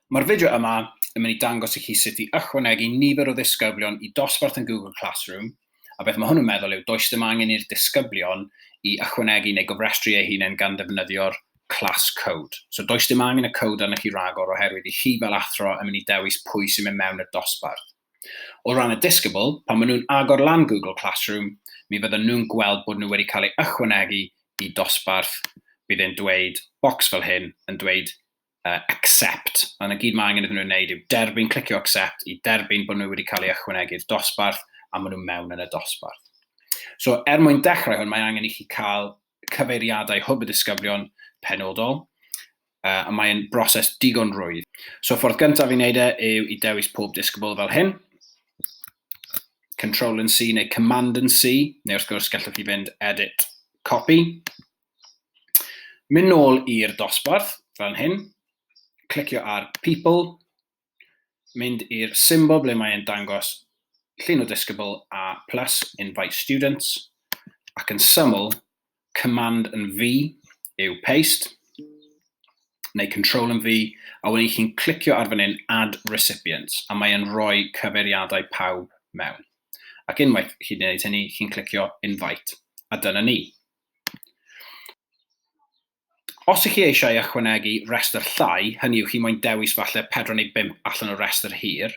Mae'r fideo yma yn mynd i dangos i chi sut i ychwanegu nifer o ddisgyblion i dosbarth yn Google Classroom, a beth mae hwn yn meddwl yw does dim angen i'r disgyblion i ychwanegu neu gofrestru eu hunain gan ddefnyddio'r class code. So does dim angen y code arnoch chi ragor oherwydd i chi fel athro yn mynd i dewis pwy sy'n mynd mewn i'r dosbarth. O ran y disgybl, pan maen nhw'n agor lan Google Classroom, mi fyddan nhw'n gweld bod nhw wedi cael eu ychwanegu i dosbarth, bydd e'n dweud bocs fel hyn yn dweud uh, accept, a na gyd mae angen iddyn nhw wneud yw derbyn, clicio accept i derbyn bod nhw wedi cael eu ychwanegu i'r dosbarth a maen nhw mewn yn y dosbarth. So er mwyn dechrau hwn, mae angen i chi cael cyfeiriadau hwb y disgyblion penodol, uh, a mae'n broses digon rwydd. So ffordd gyntaf i wneud e yw i dewis pob disgybl fel hyn, Control and C neu Command and C, neu wrth gwrs gallwch chi fynd Edit, Copy. Mynd nôl i'r dosbarth, fel hyn, clicio ar People, mynd i'r symbol ble mae e'n dangos llun o disgybl a plus invite students ac yn syml, command yn V yw paste neu control yn V a wedyn chi'n clicio ar fan hyn add recipients a mae e'n rhoi cyfeiriadau pawb mewn. Ac unwaith chi'n gwneud hynny, chi'n clicio invite a dyna ni. Os ych chi eisiau ychwanegu rhestr llai, hynny yw chi moyn dewis falle pedwar neu bump allan o restr hir,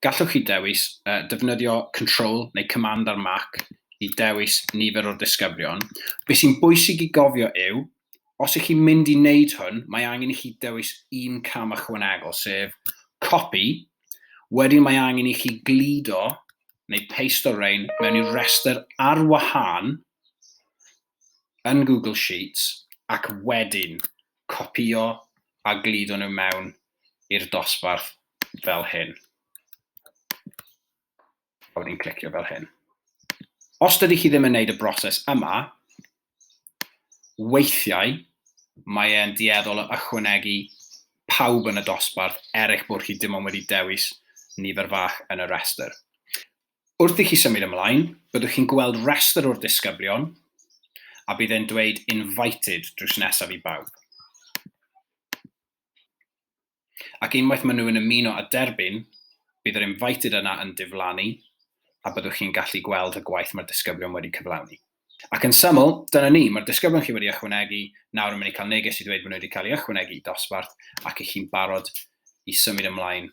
gallwch chi dewis uh, defnyddio Control neu Command ar Mac i dewis nifer o'r disgyblion. Be sy'n bwysig i gofio yw, os ych chi'n mynd i wneud hwn, mae angen i chi dewis un cam ychwanegol, sef copy, wedyn mae angen i chi gludo neu paste o rein mewn i'r restr ar wahân yn Google Sheets ac wedyn copïo a gludo nhw mewn i'r dosbarth fel hyn. A wedyn clicio fel hyn. Os dydy chi ddim yn gwneud y broses yma, weithiau mae e'n dueddol o ychwanegu pawb yn y dosbarth er eich bod chi dim ond wedi dewis nifer fach yn y rhestr. Wrth i chi symud ymlaen, byddwch chi'n gweld rhestr o'r disgyblion a bydd e'n dweud invited drws nesaf i bawb. Ac unwaith maen nhw yn ymuno a derbyn, bydd yr invited yna yn diflannu a byddwch chi'n gallu gweld y gwaith mae'r disgyblion wedi cyflawni. Ac yn syml, dyna ni, mae'r disgyblion chi wedi ychwanegu nawr yn mynd i cael neges i ddweud bod nhw wedi cael eu ychwanegu i dosbarth ac i chi'n barod i symud ymlaen